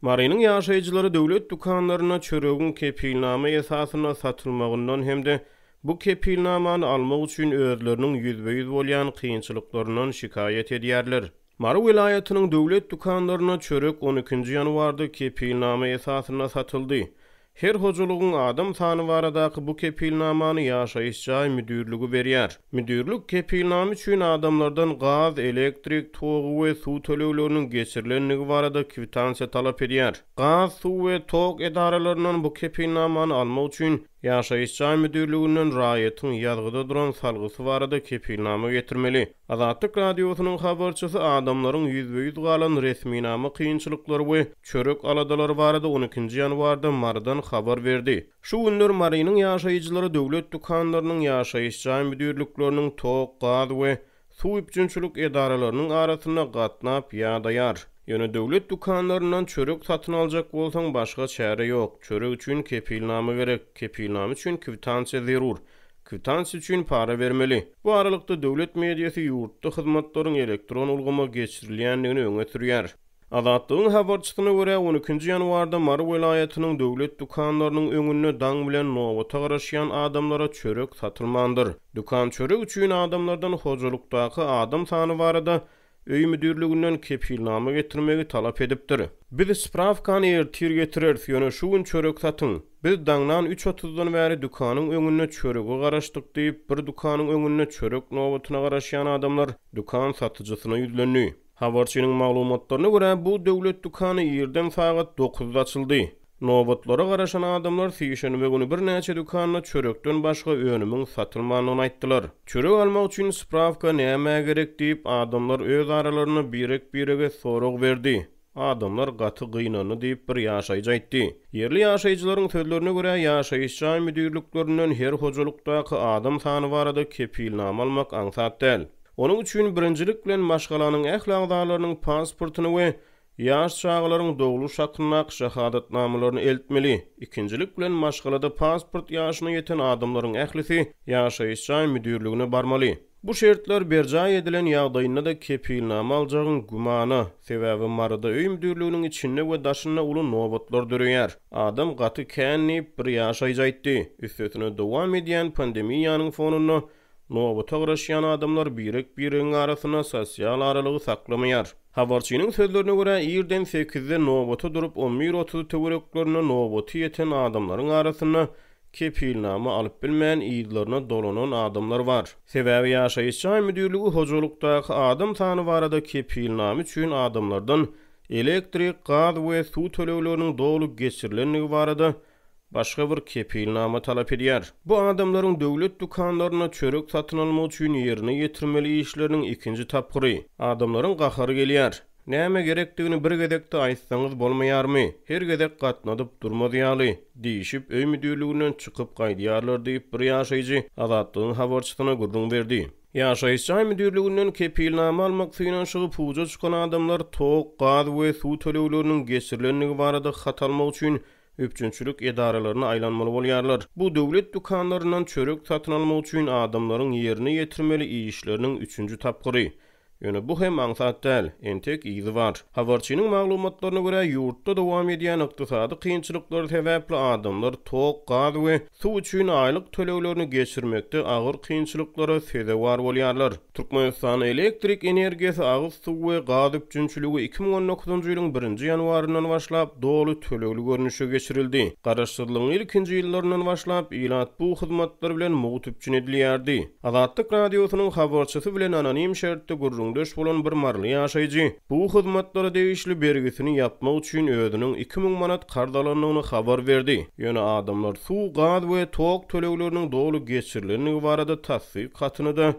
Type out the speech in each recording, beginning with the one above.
Marynyň ýaşaýjylary döwlet dükanlarynda çöregiň kepilnama esasynda satylmagyndan hem-de bu kepilnamany almak üçin özleriniň ýüzbe-ýüz bolýan kynçylyklaryndan şikaýat edýärler. Mary welaýatynyň döwlet dükanlarynda çörek on ikinji ýanwarda kepilnama esasynda satyldy. Her hojalygyň adam sany baradaky bu kepilnamany ýaşaýyş jaý müdirligi berýär. Müdirlik kepilnama üçin adamlardan gaz, elektrik togy we suw tölegleriniň geçirilendigi barada kwitansiýa talap edýär. Gaz, suw we tok edaralaryndan bu kepilnamany almak üçin ýaşaýyş jaý müdirliginden raýatyň ýazgyda duran salgysy barada kepilnama getirmeli. Azatlyk Radiosynyň habarçysy adamlaryň ýüzbe-ýüz galan resminama kynçylyklary we çörek aladalary barada on ikinji ýanwarda Marydan habar berdi. Şu günler Marynyň ýaşaýjylary döwlet dükanlarynyň, ýaşaýyş jaý müdirlikleriniň, tok, gaz we suw üpjünçilik edaralarynyň arasynda gatnap ýadaýar. Ýöne döwlet dükanlaryndan çörek satyn aljak bolsaň, başga çäre ýok. Çörek üçin kepilnama gerek. Kepilnama üçin kwitansiýa zerur. Kwitans üçin para bermeli. Bu aralykda, döwlet mediasy ýurtda hyzmatlaryň elektron ulgama geçirilýändigini öňe sürýär. Azatlygyň habarçysyna görä, on ikinji ýanwarda Mary welaýatynyň döwlet dükanlarynyň öňünde daň bilen nobata garaşýan adamlara çörek satylmandyr. Dükan çörek üçin adamlardan hojalykdaky adam sany barada öý müdirliginden kepilnama getirmegi talap edipdir. Biz sprawkany ertir getireris, ýöne şu gün çörek satyň. Biz daňdan üç otuzdan bäri dükanyň öňünde çörege garaşdyk, diýip, bir dükanyň öňünde çörek nobatyna garaşýan adamlar dükan satyjysyna ýüzlendi. Habarçynyň maglumatlaryna görä, bu döwlet dükany irden sagat dokuzda açyldy. Nobatlara garaşan adamlar sişenbe güni birnäçe dükanda çörekden başga önümiň satylmandygyny aýtdylar. Çörek almak üçin sprawka nämä gerek diýip, adamlar öz aralarynda birek-birege sorag berdi. Adamlar gaty gynandy diýip, bir ýaşaýjy aýtdy. Ýerli ýaşaýjylaryň sözlerine görä, ýaşaýyş jaý müdirliklerinden her hojalykdaky adam sany barada kepilnama almak aňsat däl. Onuň üçin birinjilik bilen maşgalanyň ähli agzalarynyň pasportyny we Ýaş çagalaryň dogluş hakyndaky şahadatnamalaryny eltmeli. Ikinjilik bilen, maşgalada pasport ýaşyna ýeten adamlaryň ählisi ýaşaýyş jaý müdirligine barmaly. Bu şertler berjaý edilen ýagdaýynda-da kepilnama aljagyň gümana, sebäbi Maryda öý müdirliginiň içinde we daşynda uly nobatlar döreýär. Adam gaty kän diýip, bir ýaşaýjy aýtdy. Üstesine, dowam edýän pandemiýanyň fonunda Nobata garaşýan adamlar birek-biregiň arasynda sosial aralygy saklamaýar. Habarçynyň sözlerine görä, irden sekizde nobata durup, on bir otuz töwereklerinde nobaty ýeten adamlaryň arasynda kepilnama alyp bilmän, yzlaryna dolanan adamlar bar. Sebäbi ýaşaýyş jaý müdirligi hojalykdaky adam sany barada kepilnama üçin adamlardan elektrik, gaz we suw tölegleriniň doly geçirilendigi barada başga bir kepilnama talap edýär. Bu adamlaryň döwlet dükanlarynda çörek satyn almak üçin ýerine ýetirmeli işleriniň ikinji tapgyry. Adamlaryň gahary gelýär. Näme gerekdigini bir gezekde aýtsaňyz bolmaýarmy? Her gezek gatnadyp durmaz ýaly, diýşip, öý müdirliginden çykyp gaýdýarlar diýip, bir ýaşaýjy Azatlygyň habarçysyna gürrüň berdi. Ýaşaýyş jaý müdirliginden kepilnama almak synanyşygy puja çykan adamlar tok, gaz we suw tölegleriniň geçirilendigi barada hat almak üçin üpjünçilik edaralaryna aýlanmaly bolýarlar. Bu döwlet dükanlaryndan çörek satyn almak üçin adamlaryň ýerine ýetirmeli işleriniň üçünji tapgyry. Ýöne bu hem aňsat däl, entek yzy bar. Habarçynyň maglumatlaryna görä, ýurtda dowam edýän ykdysady kynçylyklar sebäpli adamlar tok, gaz we suw üçin aýlyk töleglerini geçirmekde agyr kynçylyklara sezewar bolýarlar. Türkmenistan elektrik energiýasy, agyz suwy we gaz üpjünçiligi iki müň on dokuzynjy ýylyň birinji ýanwaryndan başlap doly tölegli görnüşde geçirildi. Garaşsyzlygyň ilkinji ýyllaryndan başlap ilat bu hyzmatlar bilen mugt üpjün edilýärdi. Azatlyk Radiosynyň habarçysy bilen anonim şertde gürrüňdeş bolan bir maryly ýaşaýjy, bu hyzmatlara degişli bergisini ýapmak üçin özüniň iki müň manat karz alandygyny habar berdi, ýöne adamlar suw, gaz we tok tölegleriniň doly geçirilendigi barada tassyk hatyny-da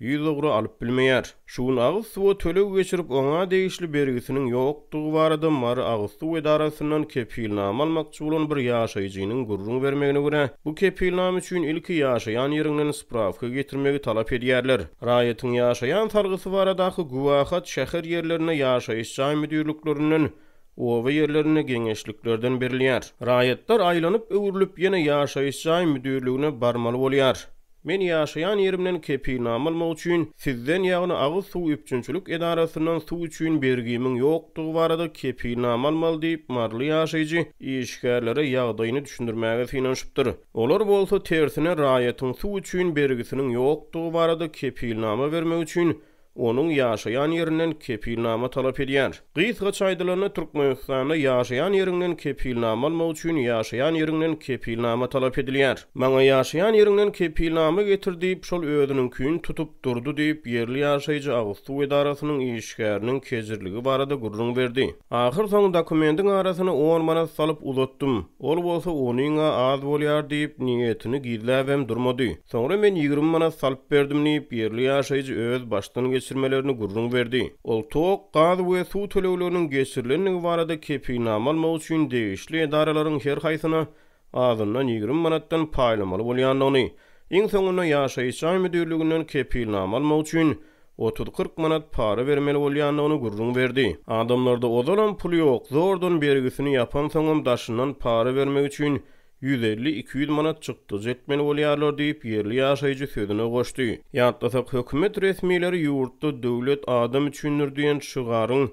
ýüz ugra alyp bilmeýär. Şu gün agyz suwa töleg geçirip, oňa degişli bergisiniň ýokdugy barada Mary agyz suw edarasyndan kepilnama almakçy bolan bir ýaşaýjynyň gürrüň bermegine görä, bu kepilnama üçin ilki ýaşaýan ýeriňden sprawka getirmegi talap edýärler. Raýatyň ýaşaýan salgysy baradaky güwähat şäher ýerlerinde ýaşaýyş jaý müdirliklerinden, oba ýerlerinde geňeşliklerden berilýär. Raýatlar aýlanyp-öwrülip ýene ýaşaýyş jaý müdirligine barmaly bolýar. Men ýaşaýan ýerimden kepilnama almak üçin sizden ýagny agyz suw üpjünçilik edarasyndan suw üçin bergimiň ýokdugy barada kepilnama almaly diýip, maryly ýaşaýjy işgärlere ýagdaýyny düşündirmäge synanyşypdyr. Olar bolsa tersine raýatyň suw üçin bergisiniň ýokdugy barada kepilnama bermek üçin onuň ýaşaýan ýerinden kepilnama talap edýär. Gysgaça aýdylanda Türkmenistanda ýaşaýan ýeriňden kepilnama almak üçin ýaşaýan ýeriňden kepilnama talap edilýär. Maňa ýaşaýan ýeriňden kepilnama getir diýip şol özüniňkini tutup durdy diýip ýerli ýaşaýjy agyz suw edarasynyň işgäriniň kejirligi barada gürrüň berdi. Ahyrsoňy dokumendiň arasyna on manat salyp uzatdym. Ol bolsa onuň-a az bolýar diýip, niýetini gizläbem durmady. Soňra men ýigrimi manat salyp berdim diýip, ýerli ýaşaýjy öz başdan geçirmelerini gürrüň berdi. Ol tok, gaz we suw tölegleriniň geçirilendigi barada kepilnama almak üçin degişli edaralaryň her haýsyna azyndan ýigrimi manatdan paýlamaly bolýandygyny, iň soňunda ýaşaýyş jaý müdirliginden kepilnama almak üçin otuz-kyrk manat para bermeli bolýandygyny gürrüň berdi. Adamlarda ozalam pul ýok, zordan bergisini ýapansoňam daşyndan para bermek üçin ýüz elli-iki ýüz manat çykdajy etmeli bolýarlar diýip, ýerli ýaşaýjy sözüne goşdy. Ýatlasak, hökümet resmileri ýurtda Döwlet adam üçindir diýen şygaryň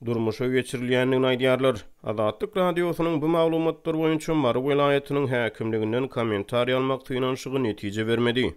durmuşa geçirilýändigini aýdýarlar. Azatlyk Radiosynyň bu maglumatlar boýunça Mary welaýatynyň häkimliginden kommentariý almak synanyşygy netije bermedi.